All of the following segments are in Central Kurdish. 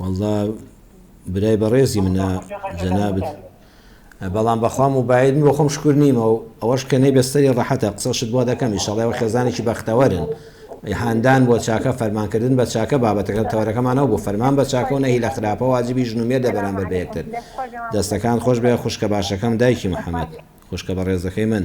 وەڵڵا برای بەڕێزی منە جەنابت بەڵام بەخوا موبایل بۆ خۆم شکر نیمە و ئەوەش کە نەی بەستەری ڕەحەتە قسەشت بۆ دەکەم ئیشەڵێ وە خێزانێکی بەختەوەرن هاندان بۆ چاکە فەرمانکردن بە چاکە بابەتەکە تەوەرەکەمانەوە بۆ فەرمان بە چاکە و نەهی لە خراپە واجبی ژن و مێردە بەرامبەر بە یەکتر دەستەکان خۆش بێ خوشکە باشەکەم دایکی محەممەد خوشکە بە ڕێزەکەی من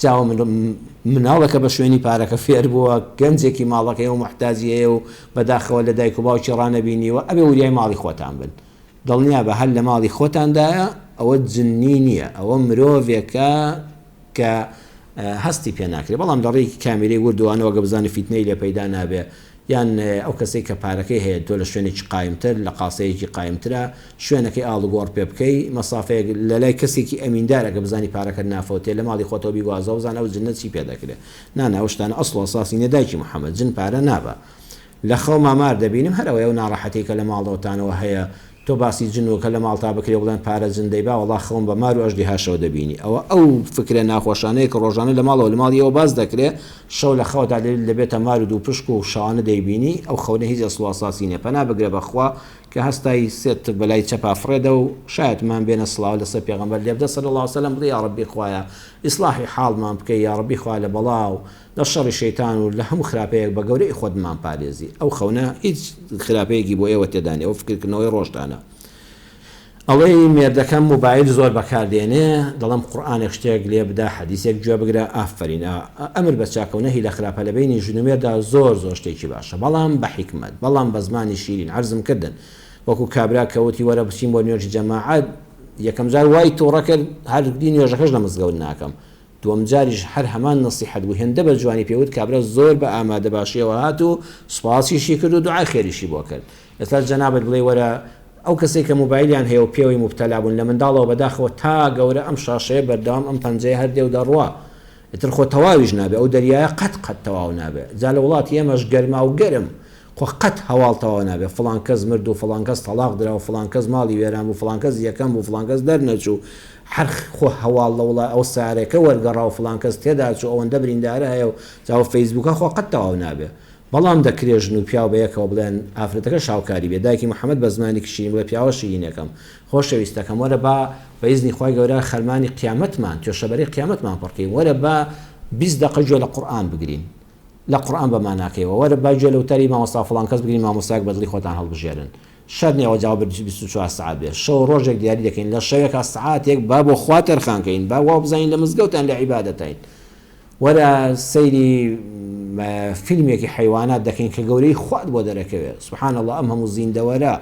جا ئەو مناڵە کە بە شوێنی پارەکە فێر بووە، گەنجێکی ماڵەکەیە و موحتاجی هەیە و بەداخەوە لە دایک و باوکی ڕانەبینیوە، ئەبێ وریای ماڵی خۆتان بن. دڵنیابە هەر لە ماڵی خۆتاندایە، ئەوە جننی نییە، ئەوە مرۆڤێکە کە هەستی پێ ناکرێ، بەڵام لە ڕێی کامیرەی وردوانەوە گە بزانن فیتنەی لێ پەیدا نابێ، یان ئەو کەسەی کە پارەکەی هەیە تۆ لە شوێنێکی قایمتر، لە قاسەیەکی قایمترە، شوێنەکەی ئاڵوگۆڕ پێ بکەی، مەسافەیەک لە لای کەسێکی ئەمیندار ئەگەر بزانی پارەکەت نافەوتێ، لە ماڵی خۆتەوە بیگوازەوە بزانە ئەو جنە چی پێ دەکرێ. نا نا ئەو شتانە ئەسڵ و ئەساسی نیە دایکی محەمەد، جن پارە نابا. لە خەوما مار دەبینم هەر ئەوەیە ئەو ناڕەحەتیەی کە لە ماڵەوەتانەوە هەیە، تۆ باسی جن و کە لە ماڵتا بکرێ بڵێن پارە جن دەیبا وەڵا خەون بە مار و ئەژدیهاشەوە دەبینی ئەوە ئەو فکرە ناخۆشانەیە کە ڕۆژانە لە ماڵەوە لە ماڵی ئێوە باس دەکرێ شەو لە خەوتا دەبێت دەبێتە مار و دووپشک و شەوانە دەیبینی ئەو خەونە هیچ ئەسڵ و ئەساسی نیە پەنا بگرە بە خوا کە هەستای سێت بە لای چەپا فڕێدە و شایەتمان بێنە سڵاو لەسەر پێغەمبەر لێبدە صلی اللە وسلم بڵێ یاڕەبی خوایە ئیسڵاحی حاڵمان بکەی یاڕەبی خوا لە بەڵا و لە شەڕی شەیتان و لە هەموو خراپەیەک بە گەورەیی خۆت بمان پارێزی ئەو خەونە هیچ خراپەیەکی بۆ ئێوە تێدا نیە ئەو فکرکردنەوەی ڕۆژتانە ئەڵێی مێردەکەم موبایل زۆر بەکار دێنێ دەڵێم قورئانێک شتێک لێ بدە حەدیسێک گوێ بگرە ئافەرین ئا ئەمر بە چاکە و نەهی لە خراپە لە بەینی ژن و مێرددا زۆر زۆر شتێکی باشە بەڵام بە حیکمەت بەڵام بە زمانی شیرین عەرزم کردن وەکو کابرا کە وتی وەرە بچین بۆ نوێژی جەماعەت یەکەم جار وای توڕە کرد هەر دی نوێژەکەش لە مزگەوت ناکەم دووەم جاریش هەر هەمان نەسیحەت بوو هێندە بە جوانی پێ وت کابرا زۆر بە ئامادە باشیەوە هات و سوپاسیشی کرد و دوعای خێریشی بۆ کرد ئێستا جەنابت بڵێی وەرە ئەو کەسەی کە موبایلیان هەیە و پێوەی موبتەلا بوون لە منداڵەوە بە داخەوە تا گەورە ئەم شاشەیە بەردەوام ئەم پەنجەیە هەر دێ و دەڕوا ئیتر خۆ تەواویش نابێ ئەو دەریایە قەت قەت تەواو نابێ جا لە وڵاتی ئێمەش گەرماو گەرم خۆ قەت هەواڵ تەواو نابێت فڵان کەس مرد و فڵان کەس تەڵاق درا و فڵان کەس ماڵی وێران بوو فڵان کەس یەکەم بوو فڵان کەس دەرنەچوو هەر خۆ هەواڵ لە وڵا ئەو سارێکە وەرگەڕا و فڵان کەس تێدا چوو ئەوەندە بریندارە هەیە و جا و فەیسبووکە خۆ قەت تەواو نابێت بەڵام دەکرێ ژن و پیاو بە یەکەوە بڵێن ئافرەتەکە شاوکاری بێ دایکی محمد بە زمانێکی شیرین بڵێ پیاوە شیرینەکەم خۆشەویستەکەم وەرە با بە ئیزنی خوای گەورە خەرمانی قیامەتمان توێشەبەرەی قیامەتمان پڕکەین وەرە با بیست دەقە گوێ لە قورئان بگرین لە قورئان بە ماناکەیەوە وەرە با گوێ لە وتاری مامۆستا فڵان کەس بگرین مامۆستایەک بە دڵی خۆتان هەڵبژێرن شەرت نیە ئەوە جواب بیست و چوار سەعات بێت شەو و ڕۆژێک دیاری دەکەین لە شەوێکا سەعاتێک با بۆ خوا تەرخان کەین با وا بزانین لە مزگەوتان لە عیبادەتین وەرە سەیری فیلمێکی حیوانات دەکەین کە گەورەی خوات بۆ دەرەکەوێت سبحان الله ئەم هەموو زیندەوەرە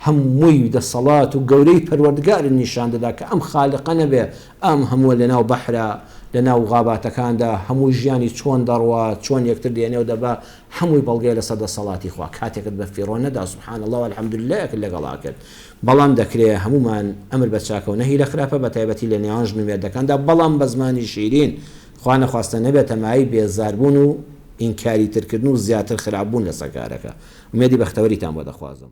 هەمووی دەسەڵات و گەورەی پەروەردگارت نیشان دەدا کە ئەم خالقە نەبێ ئەم هەمووە لەناو بەحرە، لەناو غاباتەکاندا، هەمووی ژیانی چۆن دەڕوا، چۆن یەکتر دێنێ و دەبا، هەمووی بەڵگەیە لەسەر دەسەڵاتی خوا. کاتێکت بە فیڕۆ نەدا سبحان اللە و الحمد للەیەکت لەگەڵا کرد. بەڵام دەکرێ هەموومان ئەمر بە چاکە و نەهی لە خراپە، بەتایبەتی لە نێوان ژن و مێردەکاندا، بەڵام بە زمانی شیرین، خوا نەخواستە نەبێتە مایەی بێزاربوون و ئینکاری ترکردن و زیاتر خراپبوون لەسەر کارەکە. ئومێدی بەختەوەریتان بۆ دەخوازم.